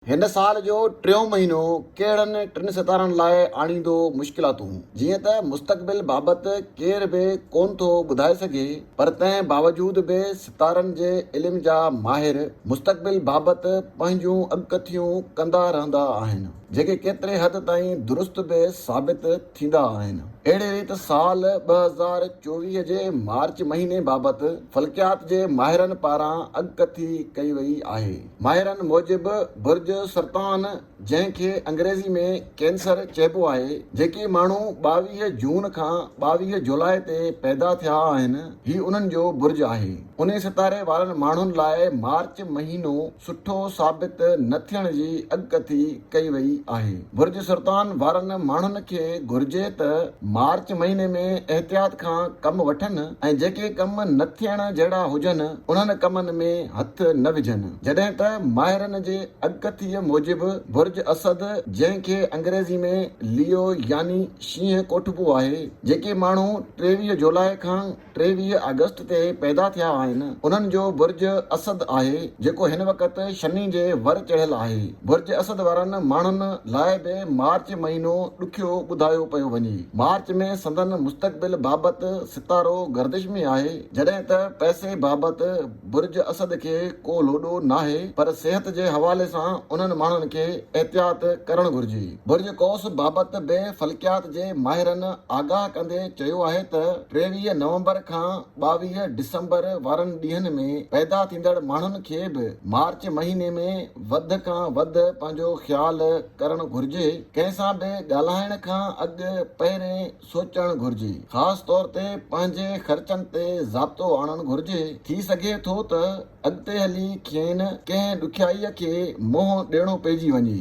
هن سال جو ٽيون مهينو ڪهڙن ٽن ستارن لاء آڻيندو مشڪلاتون، جيئن ته مستقبل بابت ڪير به ڪونه ٿو ٻڌائي سگهي پر تنهن باوجود به ستارن جي علم جا ماهر مستقبل بابت پنهنجون اڳڪٿيون ڪندا رهندا آهن جيڪي ڪيتري حد تائين درست به ثابت ٿيندا آهن. اهڙي ريت سال ٻه هزار چوويهه جي مارچ مهيني بابت فلڪيات جي ماهرن پاران اڳڪٿي ڪئي وئي آهي. ماهرن موجب برج سرطان جنهن کي انگريزي ۾ ڪينسر چئبو آهي، جيڪي ماڻهو ٻاويهه جون کان ٻاويهه جولاء تي پيدا ٿيا آهن، هي انهن جو برج آهي. انهي ستاري وارن ماڻهن لاء مارچ مهينو سٺو ثابت نه ٿيڻ جي اڳڪٿي ڪئي وئي آهي. برج سرطان وارن ماڻهن کي گهرجي ته مارچ مهيني ۾ احتياط کان ڪم وٺن ۽ جيڪي ڪم نه ٿيڻ جهڙا هجن انهن ڪمن ۾ هٿ نه وجهن. جڏهن ته ماهرن جي اڳڪٿيء موجب برج اسد جنهن کي انگريزي ۾ ليو يعني شينهن ڪوٺبو آهي، جيڪي ماڻهو ٽيويهه جولاء کان، ٽيويهه آگسٽ تي پيدا ٿيا آهن، انهن جو برج اسد آهي، جيڪو هن وقت شني جي ور چڙهيل آهي. برج اسد وارن ماڻهن لاء به مارچ مهينو ڏکيو ٻڌايو پيو وڃي. مارچ ۾ سندن مستقبل بابت ستارو گردش ۾ آهي، جڏهن ته پئسي بابت. برج اسد کي ڪو لوڏو ناهي پر صحت جي حوالي سان انهن ماڻهن کي احتياط ڪرڻ گهرجي. برج قوس بابت به فلڪيات جي ماهرن آگاهه ڪندي چيو آهي ته ٽيويهه نومبر کان ٻاويهه ڊسمبر وارن ڏينهن ۾ پيدا ٿيندڙ ماڻهن کي به مارچ مهيني ۾ وڌ کان وڌ پنهنجو خيال ڪرڻ گهرجي ڪنهن سان به ڳالهائڻ کان اڳ پهرين سوچڻ گهرجي. خاص طور تي پنهنجي خرچن تي ضابطو آڻڻ گهرجي. ٿي سگهي ٿو ته اڳتي هلي کين ڪنهن ڏکيائيء کي منهن ڏيڻو پئجي وڃي.